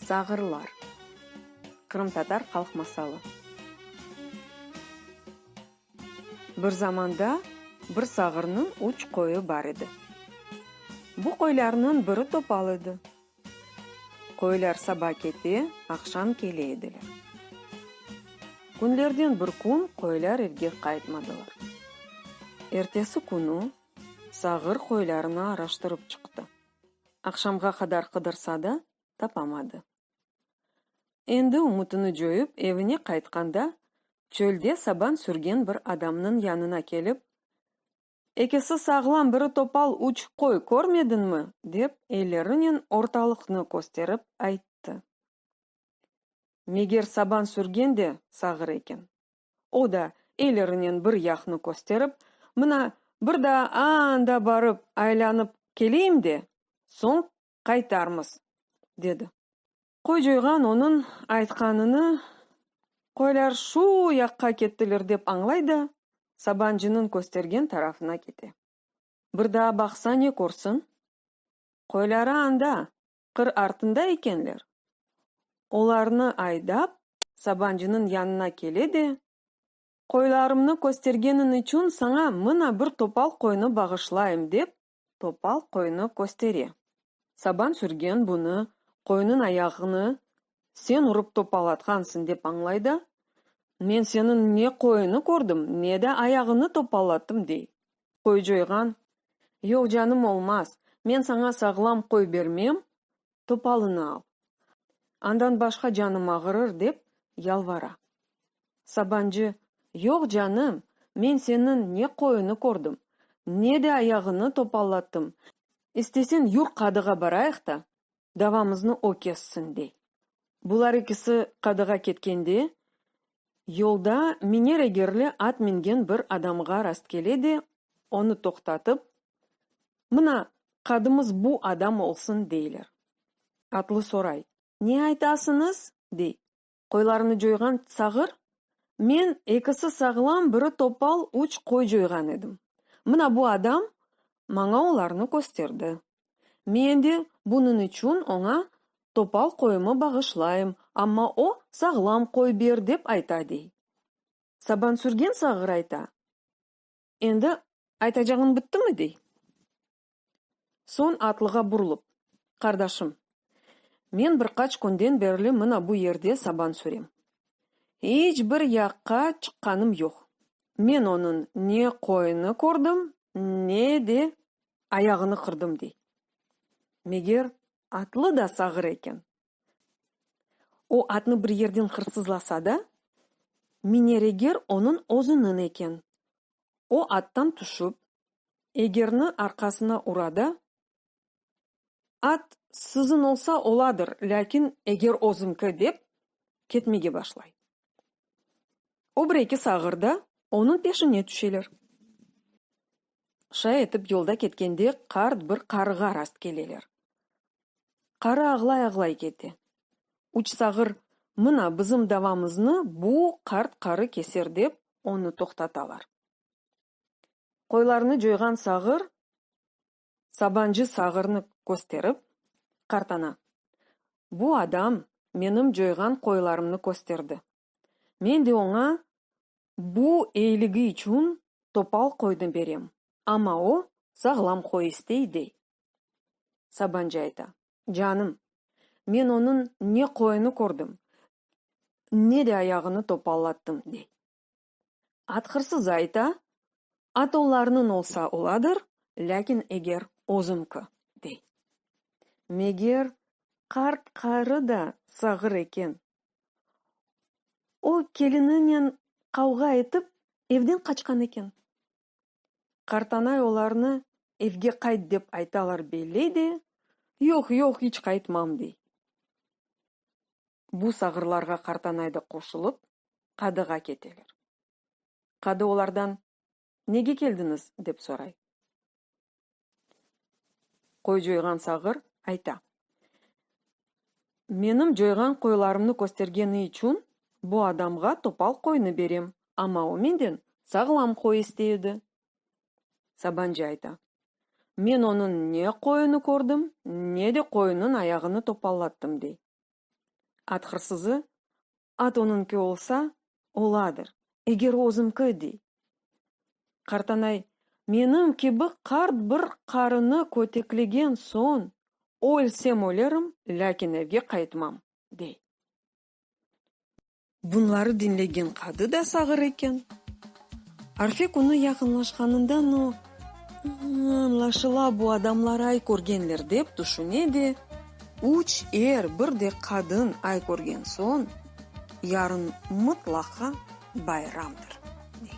Sağırlar, qırımtatar halq masalı. Bir zamanda bir sağırnıñ üç qoyu bar edi. Bu qoylarnıñ biri topal edi. Qoylar saba kete, aqşam kele ediler. Künlerden bir kün qoylar evge qaytmadılar. Ertesi künü Sağır qoylarını araştırıp çıqtı. Aqşamğa qadar qıdırsa da, tapamadı. Endi ümütini coyıp evine qaytqanda, çölde saban sürgen bir adamnıñ yanına kelip, Ekisi sağlam, biri topal üç qoy körmediñmi? dep, ellerinen ortalıqnı kösterip ayttı. Meger saban sürgen de sağır eken. O da, elirinen bir yaqnı kösterip, Mına, bir daa aanda barıp aylanıp keleyim de, soñ qaytarmız, dedi. Qoycoyğan onıñ aytqanını qoylar şu yaqqa kettiler dep añlay da, sabancınıñ köstergen tarafına kete. Bir daa baqsa ne körsin? Qoyları anda, qır artında ekenler, olarnı aydap, Sabancınıñ yanına kele de, Qoylarımnı köstergeniñ içün saña mına bir topal qoynı bağışlayım, dep, topal qoynı köstere. Saban sürgen bunı qoynıñ ayağını sen urıp topallatqansıñ dep añlay da, Men seniñ ne qoynı kördim, ne de ayağıñı topallattım, dey. qoycayğan, Yoq, canım, olmaz, men saña sağlam qoy bermem, topalını al, andan başqa canım ağırır, dep yalvara. Sabancı, Yoq, canım, men seniñ ne qoyuñnı kördim, ne de ayağıñnı topallattım, istesen yur qadığa barayıq ta, davamıznı o kessin, dey. Bular ikisi qadığa ketkende, yolda miner egerli at mingen bir adamğa rastkele de, onı toqtatıp, Mına, qadımız bu adam olsun, deyler. Atlı soray, Ne aytasıñız? dey. Qoylarını coyğan sağır? Men, ekisi sağlam, biri topal, üç qoy coyğan edim. Mına bu adam maña olarnı kösterdi. Men de bunıñ içün oña topal qoyumı bağışlayım, amma o, sağlam qoy ber, dep ayta, dey. Sabansürgen sağır ayta. Endi aytacağıñ bittimi? dey. Soñ atlığa burlup, Qardaşım, men bir qaç künden berli mına bu yerde saban sürem. İç bir yaqqa çıqqanım yoq. Men onıñ ne qoyunı kördim, ne de ayağını qırdım, dey. Meger, atlı da sağır eken. O atnı bir yerden hırsızlasa da, minereger onıñ özüniñ eken. O attan tüşip, egerni arqasına ura da, At siziñ olsa oladır, lâkin eger özüñki, dep, ketmege başlay. O bir-eki sağır da onıñ peşine tüşeler. Şay etip yolda ketkende qart bir qarığa rast keleler. Qarı ağlay-ağlay kete. Üç sağır, Mına, bizim davamıznı bu qart qarı keser, dep, onı toqtatalar. Qoylarnı coyğan sağır sabancı sağırnı kösterip, qartana, Bu adam menim coyğan qoylarımnı kösterdi, Men de oña bu eyiligi içün topal qoyni berem, amma o, sağlam qoy istey, dey. Sabancı ayta, Canım, men onıñ ne qoyunı kördim, ne de ayağını topallattım, dey. At hırsızı ayta, At olarnıñ olsa oladır, lâkin eger özümki, dey. Meger, qart qarı da sağır eken, O, kelininen qavğa etip, evden qaçqan eken. Qartanay olarnı evge qayt dep aytalar belley de, Yoq, yoq, iç qaytmam, dey. Bu sağırlarğa Qartanay da qoşulıp, qadığa keteler. Qadı olardan, Nege keldiñiz? dep soray. Qoy coyğan sağır ayta. Menim coyğan qoylarımnı köstergeni içün bu adamğa topal qoynı berem, amma o menden sağlam qoy istey edi. Sabancı ayta. Men onıñ ne qoyunı kördim, ne de qoyunıñ ayağını topallattım, dey. At hırsızı At onıñki olsa, oladır, eger özümki, dey. Qartanay, menim kibi qart bir qarını köteklegen soñ, Ölsem ölerim, lâkin evge qaytmam, dey. Bunları diñlegen qadı da sağır eken. Arfe künü yaqınlaşqanından o, añlaşıla, bu adamlar ay körgenler, dep tüşüne de, üç er, bir de qadın ay körgen soñ, yarın mıtlaqa bayramdır, dey.